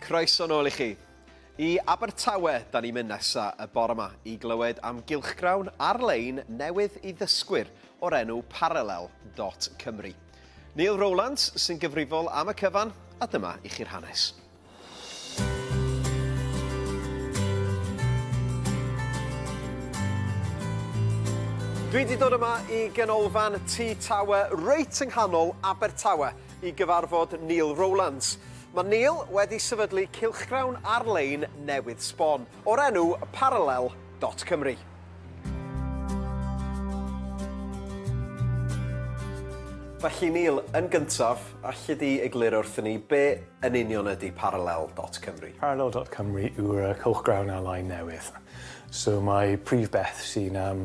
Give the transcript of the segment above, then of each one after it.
Croeso nôl i chi. I Abertawe, da ni'n mynd nesa y bore yma i glywed am gylchgrawn ar-lein newydd i ddysgwyr o'r enw Parallel.Cymru. Neil Rowlands sy'n gyfrifol am y cyfan, a dyma i chi'r hanes. Dwi 'di dod yma i ganolfan Tŷ Tawe reit yng nghanol Abertawe i gyfarfod Neil Rowlands. Mae Neil wedi sefydlu cylchgrawn ar-lein newydd sbon. o'r enw Parallel dot Cymru. Felly Neil, yn gyntaf, alli di egluro wrthyn ni be yn union ydy Parallel dot Cymru? Parallel dot Cymru yw'r yy cylchgrawn ar-lein newydd. So mae prif beth sy'n yym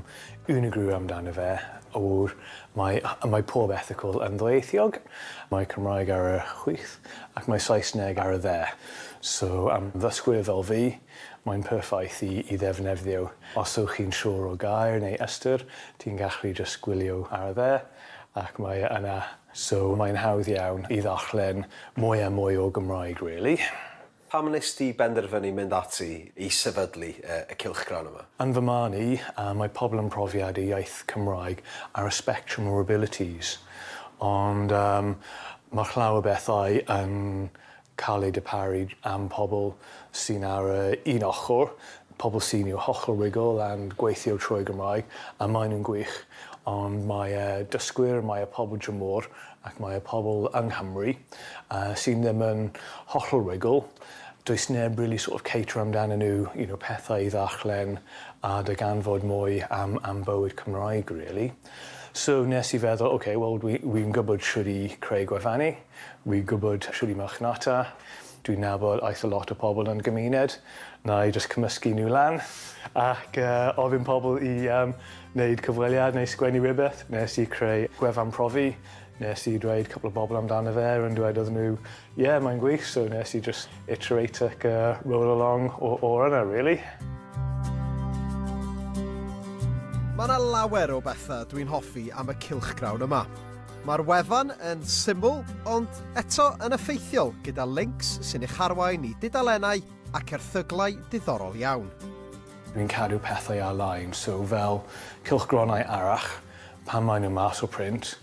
unigryw amdano fe yw'r mae yy mae pob erthygl yn ddwyieithiog, mae Cymraeg ar y chwith, Ac mae Saesneg ar y dde. So am ddysgwyr fel fi, mae'n perffaith i i ddefnefddio. Os ywch chi'n siwr o gair neu ystyr, ti'n gallu jyst gwylio ar y dde ac mae e yna. So mae'n hawdd iawn i ddarllen mwy a mwy o Gymraeg rili. Pam wnes di benderfynu mynd ati i sefydlu y cylchgrawn yma? Yn fy marn i, mae pobl yn profiad y iaith Cymraeg ar y spectrum o abilities, ond mae llawer bethau yn cael eu darparu am pobl sy'n ar yr un ochr, pobl sy'n i'w hochr rugl and gweithio trwy Gymraeg, a maen nhw'n gwych, ond mae y dysgwyr, mae y pobl dramor Ac mae y pobl yng Nghymru sydd ddim yn hollol rugl, does neb really sort of caterio amdanyn nhw, you know, pethau i ddarllen a darganfod mwy am am bywyd Cymraeg really. So nes i feddwl ok wel dwi wi'n gwybod shwt i creu gwefani, wi'n gwybod shwt i marchnata, Dwi'n nabod eitha lot o pobl yn y gymuned, wna i jyst cymysgu nhw lan ac ofyn pobl i wneud cyfweliad neu sgwennu rhywbeth. Wnes i creu gwefan profi, wnes i dweud cwpl o bobl amdano fe a dwedodd nhw ie, mae'n gwych, so wnes i jyst iterate ac roll along o'r yna rili. Mae 'na lawer o bethau dwi'n hoffi am y cylchgrawn yma. Mae'r wefan yn syml ond eto yn effeithiol gyda lincs sy'n eich arwain i dudalennau ac erthyglau diddorol iawn. Dwi'n cadw pethau ar-lein, so fel cylchgronau arall, pan maen nhw mas o print,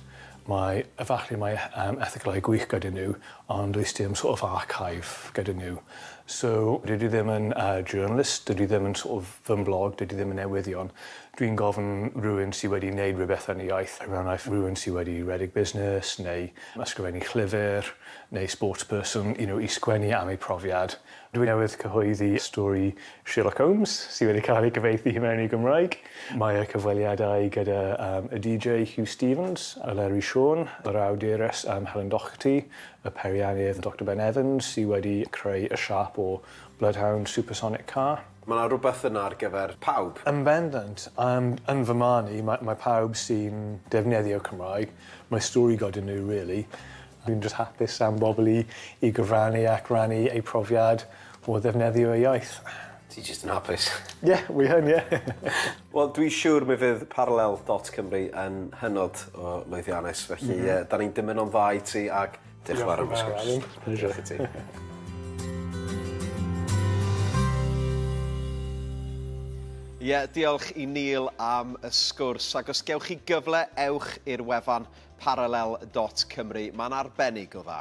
mae, efallai mae yym erthyglau gwych gyda nhw, ond does dim sort of archive gyda nhw. So dydw i ddim yn yy journalist, dydw i ddim yn sort of fy mblog, dydw i ddim yn newyddion, Dwi'n gofyn rhywun sy wedi neud rhywbeth yn y iaith, er enghraifft rhywun sy wedi rhedeg busnes neu ysgrifennu llyfr neu sportsperson you know i sgwennu am eu profiad. Dwi newydd cyhoeddi stori Sherlock Holmes sy wedi cael ei gyfieithu i mewn i Gymraeg. Mae y cyfweliadau gyda um, y DJ Huw Stephens, y Lerwi Siôn, yr awdures um, Helen Doherty, y peiriannydd Doctor Ben Evans sy wedi creu y siâp o Bloodhound Supersonic Car. Mae 'na rywbeth yna ar gyfer pawb. Yn bendant. Yym, yn fy marn i, mae mae pawb sy'n defnyddio Cymraeg, mae stori goda nhw rili. Dwi'n jyst hapus am bobl i i gyfrannu ac rannu eu profiad o ddefnyddio eu iaith. Ti jyst yn hapus. Ie, wi yn, ie. Wel, dwi siwr mi fydd Parallel dot Cymru yn hynod o lwyddiannus, felly yy 'dan ni'n dymuno'n dda i ti ac Diolch yn fawr am y sgwrs. Diolch i ti. Ie, diolch i Neil am y sgwrs, ac os gewch chi gyfle, ewch i'r wefan parallel.cymru. Mae'n arbennig o dda.